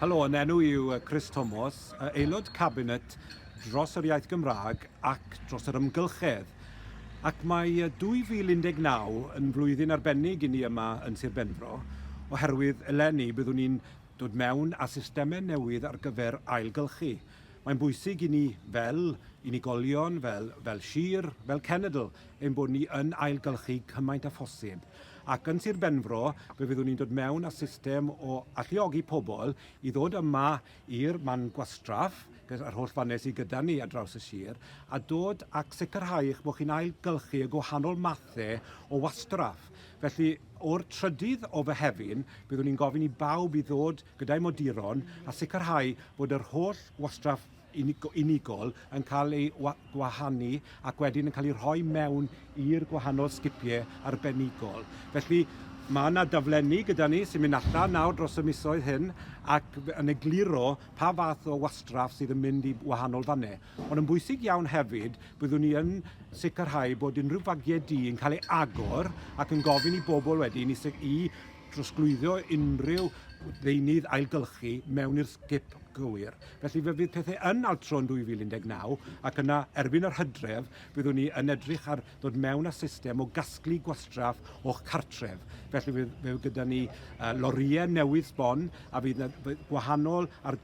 Helo, yn enw i yw Chris Tomos, Aelod Cabinet dros yr Iaith Gymraeg ac dros yr Ymgylchedd. Ac mae 2019 yn flwyddyn arbennig i ni yma yn Sir Benfro, oherwydd eleni byddwn ni'n dod mewn â systemau newydd ar gyfer ailgylchu. Mae'n bwysig i ni fel unigolion, fel, fel sir, fel cenedl, ein bod ni yn ailgylchu cymaint â phosib. Ac yn Sir Benfro, fe fyddwn ni'n dod mewn â system o alluogi pobl i ddod yma i'r man gwastraff, yr holl fannau sydd gyda ni ar draws y sir, a dod ac sicrhau eich bod chi'n ailgylchu y gwahanol mathau o wastraff. Felly, o'r trydydd o Fehefin, byddwn ni'n gofyn i bawb i ddod gyda'u moduron a sicrhau bod yr holl wastraff unigol yn cael ei gwahanu ac wedyn yn cael ei rhoi mewn i'r gwahanol sgipiau arbenigol. Felly mae yna daflenni gyda ni sy'n mynd allan nawr dros y misoedd hyn ac yn egluro pa fath o wastraff sydd yn mynd i wahanol fannau. Ond yn bwysig iawn hefyd, byddwn ni yn sicrhau bod unrhyw fagiau du yn cael ei agor ac yn gofyn i bobl wedyn i, i drosglwyddo unrhyw ddeunydd ailgylchu mewn i'r sgip gywir. Felly fe fydd pethau yn altro yn 2019 ac yna erbyn yr hydref byddwn ni yn edrych ar ddod mewn â system o gasglu gwastraff o'ch cartref. Felly fe fydd gyda ni lorïau newydd sbon a fydd yna gwahanol ar